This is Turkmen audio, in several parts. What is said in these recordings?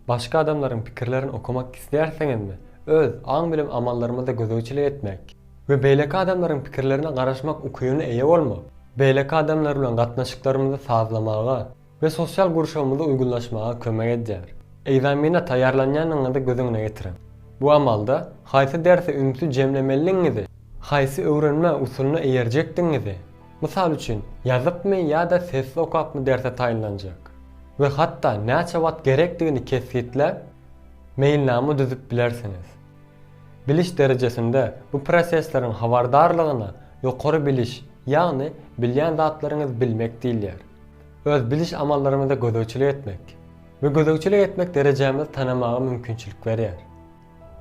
Başga adamlaryň pikirlerini okamak isleýärsiňizmi? Öz aň bilim amallarymyza gözegçilik etmek we beýleki adamlaryň pikirlerine garaşmak ukybyna eýe bolmak, beýleki adamlar bilen gatnaşyklarymyzy sazlamaga we sosial gurşawymyza uýgunlaşmaga kömek edýär. Ekzamene taýýarlanýanyňyzy göz öňüne getiriň. Bu amalda haýsy derse ünsi jemlemelidigiňizi, haýsy öwrenme usulyna eýerjekdigiňizi Mysal üçin, ýazypmy ýa-da sessiz okapmy derse taýynlanjak we hatda näçe wagt gerekdigini kesgitläp, meýilnama düzüp bilersiňiz. Biliş derejesinde bu prosesleriň habardarlygyna ýokary biliş, ýagny bilýän zatlaryňyzy bilmek diýilýär. Öz biliş amallarymyza gözegçilik etmek we gözegçilik etmek derejämizi tanamaga mümkinçilik berýär.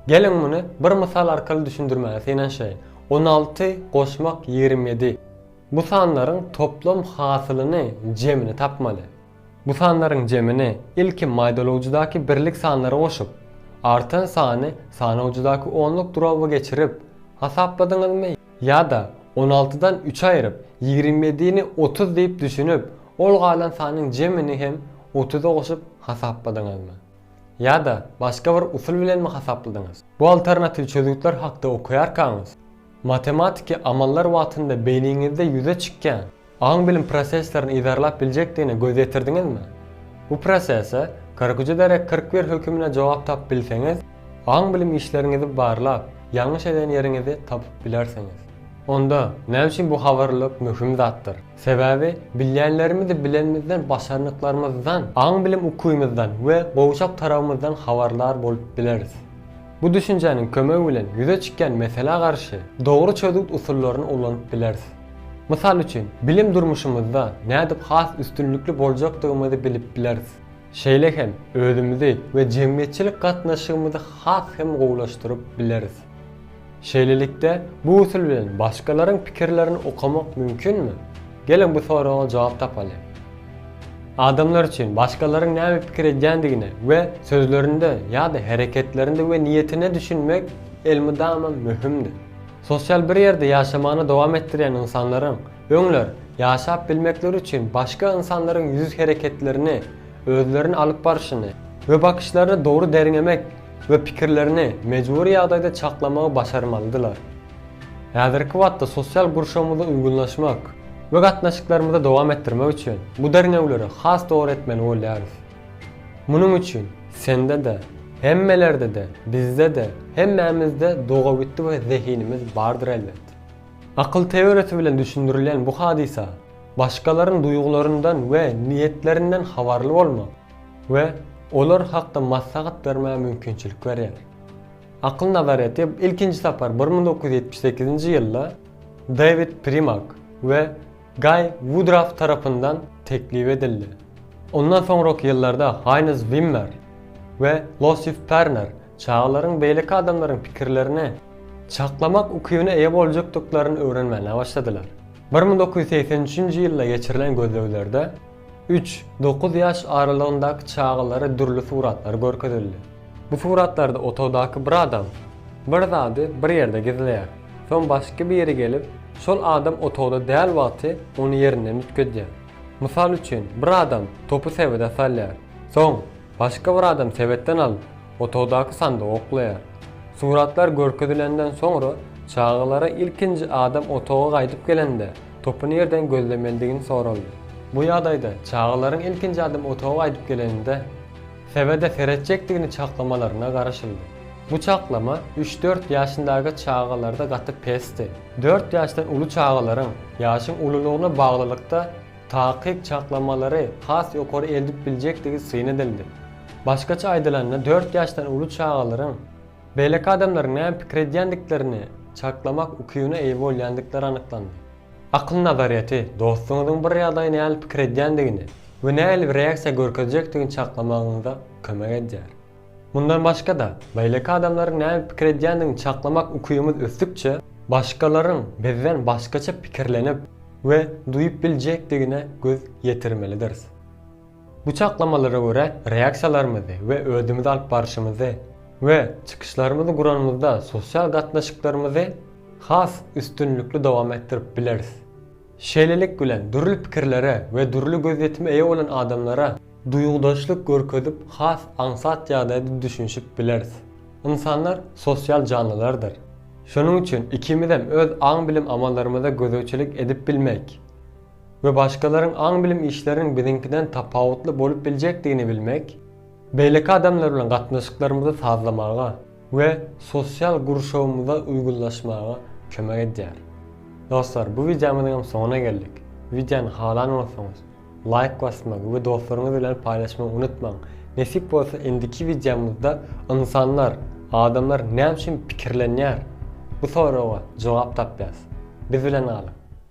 Geliň muny bir mysal arkaly düşündirmäge synanyşaýyn. On alty goşmak ýigrimi ýedi. Bu sanlaryň toplam hasylyny, jemini, tapmaly. Bu sanlaryň jemini ilki maýdalawjydaky birlik sanlary goşup, artan sany sanawjydaky onluk duraby geçirip, hasapladyňyzmy ýa-da on altydan üç aýryp, ýigrimi ýedini otuz diýip düşünip, ol galan sanyň jemini hem otuza goşup hasapladyňyzmy? Ýa-da başga bir usul bilenmi hasapladyňyz? Bu alternatiw çözgütler hakda okaýarkaňyz, matematiki amallar wagtynda beýniňizde ýüze çykýan aň-bilim proseslerini yzarlap biljekdigine göz ýetirdiňizmi? Bu prosese kyrküje derek kyrk bir hökümine jogap tapyp bilseňiz, aň-bilim işleriňizi barlap, ýalňyş eden ýeriňizi tapyp bilersiňiz. Onda, näme üçin bu habarlylyk möhüm zatdyr? Sebäbi bilýänlerimizi bilenimizden, başarnyklarymyzdan, aň-bilim ukybymyzdan we gowşak tarabymyzdan habarlar bolup bileris. Bu düşünjäniň kömegi bilen ýüze çykýan meselä garşy dogry çözgüt usullaryny ulanyp bileris. Mysal üçin, bilim durmuşymyzda nädip has üstünlikli boljakdygymyzy bilip bileris. Şeýle hem özümizi we jemgyýetçilik gatnaşygymyzy has hem gowulaşdyryp bileris. Şeýlelikde, bu usul bilen başgalaryň pikirlerini okamak mümkinmi? Geliň bu soraga jogap tapaly. Adamlar üçin başgalaryň näme pikir edýändigine we sözlerinde ýa-da hereketlerinde we niýetine düşünmek elmydama möhümdir. Sosial bir ýerde ýaşamany dowam etdirýän ynsanlaryň Öňler, ýaşap bilmekleri üçin başga ynsanlaryň ýüz hereketlerini, özlerini alyp barşyny we bakyşlaryny dogry derňemek we pikirlerini mejbury ýagdaýda çaklamagy başarmalydylar. Häzirki wagtda sosial gurşawymyzda uýgunlaşmak we gatnaşyklarymyzy dowam etdirmek üçin bu derňewleri has dogry etmeli bolýarys. Munuň üçin sende-de, hemmelerde-de, bizde-de, hemmämizde doga-gütti we zehinimiz bardyr elbet. Akyl teoriýasy bilen düşündirilýän bu hadysa başgalaryň duýgularyndan we niýetlerinden habarly bolmak we olar hakda maslahat bermäge mümkinçilik berýär. Akyl nazaryýeti ilkinji sapar bir müň dokuz ýüz ýetmiş sekizinji ýylda Dewid Primak we Gaý Wudraf tarapyndan teklip edildi. Ondan soňraky ýyllarda Haýnz Wimmer we Losif Perner çagalaryň beýleki adamlaryň pikirlerini çaklamak ukybyna eýe boljakdyklaryny öwrenmäne başladylar. Bir müň dokuz ýüz segsen üçünji ýylda geçirilen gözleglerde, Üç, dokuz ýaş aralygyndaky çagalara dürli suratlar görkezildi. Bu suratlarda otagdaky bir adam bir zady bir ýerde gizleýär. Soň başga biri gelip, şol adam otagda däl wagty ony ýerinden üýtgedýär. Mysal üçin, bir adam topy sebede salýar. Soň, başga bir adam sebetden alyp, otagdaky sandygy oklaýar. Suratlar görkezilenden soňra çagalara ilkinji adam otaga gaýdyp gelende, Topy nirden gözlemeldigini soraldy. Bu ýagdaýda çagalaryň ilkinji adym otaga gaýdyp geleninde sebede seretjekdigini çaklamalaryna garaşyldy. Bu çaklama üç-dört ýaşyndaky çagalarda gaty pesdi. Dört ýaşdan uly çagalaryň ýaşyň ululygyna baglylykda takyk çaklamalary has ýokary eldip biljekdigi syn edildi. Başgaça aýdylanda dört ýaşdan uly çagalaryň Beýleki adamlaryň näme pikir edýändiklerini çaklamak ukybyna eýe bolýandyklar anyklandy. Akyl nazaryýeti, dostuňyzyň bir ýagdaýa nähili pikir edýändigini we nähili bir reaksiýa görkezjekdigini çaklamagyňyza kömek edýär. Mundan başga-da, beýleki adamlaryň näme pikir edýändigini çaklamak ukybyňyz ösdükçe, başgalaryň bizden başgaça pikirlenip we duýup biljekdigine göz ýetirmelidiris. Bu çaklamalara görä reaksiýalarymyzy we özümizi alyp barşymyzy we çykyşlarymyzy guranymyzda sosial gatnaşyklarymyzy has üstünlikli dowam etdirip bileris. Şeýlelik bilen dürli pikirlere we dürli gözýetime eýe bolan adamlara duýgudaşlyk görkezip has aňsat ýagdaýda düşünişip bileris. Ynsanlar sosial janlylardyr. Şonuň üçin ikimizem öz aň-bilim amallarymyza gözegçilik edip bilmeýk. we başgalaryň aň-bilim işleriniň biziňkiden tapawutly bolup biljekdigini bilmek, beýleki adamlar bilen gatnaşyklarymyzy sazlamaga we sosial gurşawymyza uýgunlaşmaga kömek edýär. Dostlar, bu wideomyzyň hem soňuna geldik. Wideony halan bolsaňyz, laýk basmagy we dostlaryňyz bilen paýlaşmagy unutmaň. Nesip bolsa indiki wideomyzda ynsanlar, adamlar näme üçin pikirlenýär? Bu soraga jogap tapýas. Biz bilen galyň!